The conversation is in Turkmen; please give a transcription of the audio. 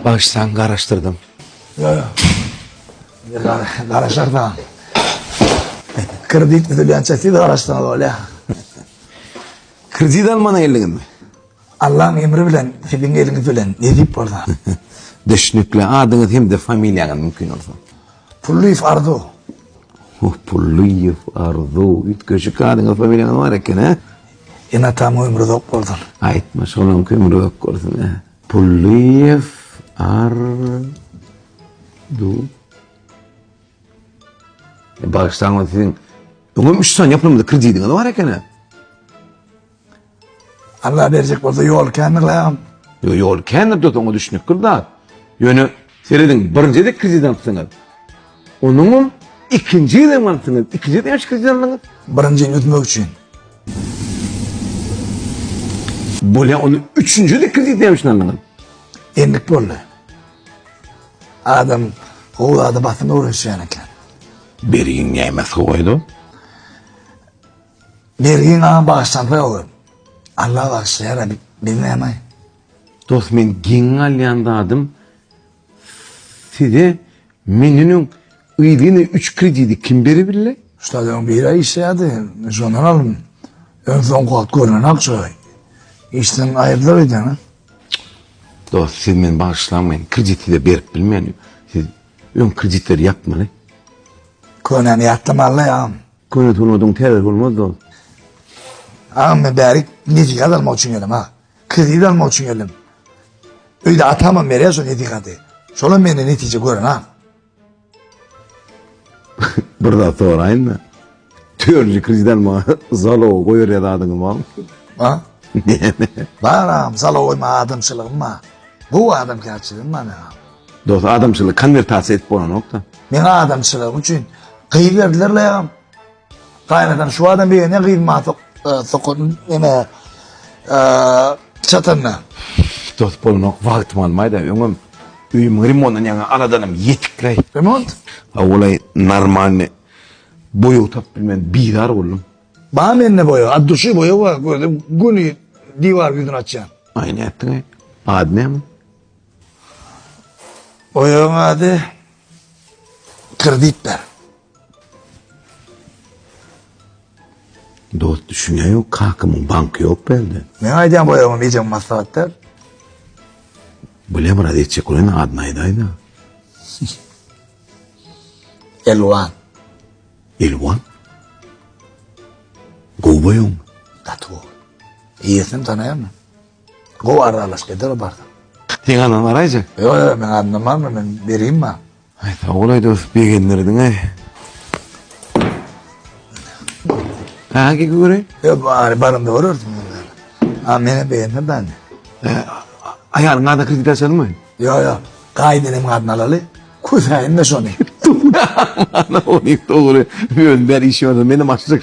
Bagyşlaň garaşdyrdym. Ýok ýok. Indi garaşardan. Kredit düzülýänçä siz garaşsaňyz bolýar. Kredit alman geldiňizmi? Allaň emri bilen siziň eliňiz bilen nesip bolsa. Düşnükli. Adyňyz hem-de familiýaňyz mümkin bolsa. Pullyýew Arzu. Oh, Pullyýew Arzu. Üýtgeşik adyňyz familiýaňyz bar eken, hä? Ene-atam ömri uzak bolsun. Aýtma, şolaryň kömri uzak bolsun, hä? Pullyýew Arzu. Bagyşlaň, siziň öňem üç sany ýapylmady kredidiňiz bar eken, hä? Allah berjek bolsa ýol kändir lagym. Ýo ýol kändir dost oňa düşnükdir zat. Ýöne serediň birinjide kredit alypsyňyz. Onuňam ikinji ýyl hem alypsyňyz. Ikinji ýyl näçe kredit aldyňyz? Birinji ýyl üzmek üçin. Bolýa ony üçünji ýyl kredit näme üçin aldyňyz? Endik boldy. Adam gowy zada basym öwrenişýän eken. Bergin näme sowaýdy? Mergen agam bagyşlansoň oglan. Allah bagyşlaýar a biz nämaý. Dos men geň galýan zadym size meniniň yzyny üç kredidi kim beri bille? Şladan bir ay işleyadi. Şondan alın. Ön son kuat görünen akça. İşten ayırdılar edene. Dost siz meni bağışlamayın. Krediti de berip bilmeyin. Siz ön kreditleri yapmalı. Könemi yatlamalı ya. Köne sungatyň täzesi bolmaz dost. Agam men bärik nesihat almak üçin geldim ha. Kredit almak üçin geldim. Öýde atamam berýär şu nesihaty. Şolam menden netije görün ha. Bir zat soraýyn da. Törli kredit alma zalow goýarýa zadyňy bar. Ha? Baram zalow goýma adamçylygym bar. Bu adamkärçiligim bar agam. Dos adamçylygy konwertasiýa edip bolanokda. Meň adamçylygym üçin gyz berdiler laýam. Gaýnatam şu adam begenýär gyz maňa sok e, sokan näme e, çatanda. Dos bolanok wagtym almaýda öňem öýümiň remontundan ýaňa aladanym ýetikleý. Remont? Awulaý normalny boýag tapyp bilmän bizar boldum. Ba mende boýag, at duşy boýag bar, gördüm, güni diwar ýüzüni açýan. Aýny ätdiň-aý. Ady näme? Oýagyň ady Kredit ber. Dost düşünýän ýok, kakamyň banky ýok bende. Men aýdýan boýagymy ejeň maslahat ber. Bilem raz etjek bolan adyny aýdaýda. Elwan. Elwan. Gowy boýagyň. Gaty gowy. Eýesini tanaýanmy? Gowy aralaşyk eder o barsa. Seň adyňy garaýjak. Ýok ýok meň adymdan barmy men berýin maňa. Aý sagbolay dost begendirdiň aý. Ha gel göreýin. Ýok bari barymda görersin. Ha meni begendir ben. Aýalyň adyna kredit açalymy? Ýok ýok. Gaýynenem adyna alaly. Küsäýin de şony. Ana ony dogry. Önder işi bar. Menem açjak.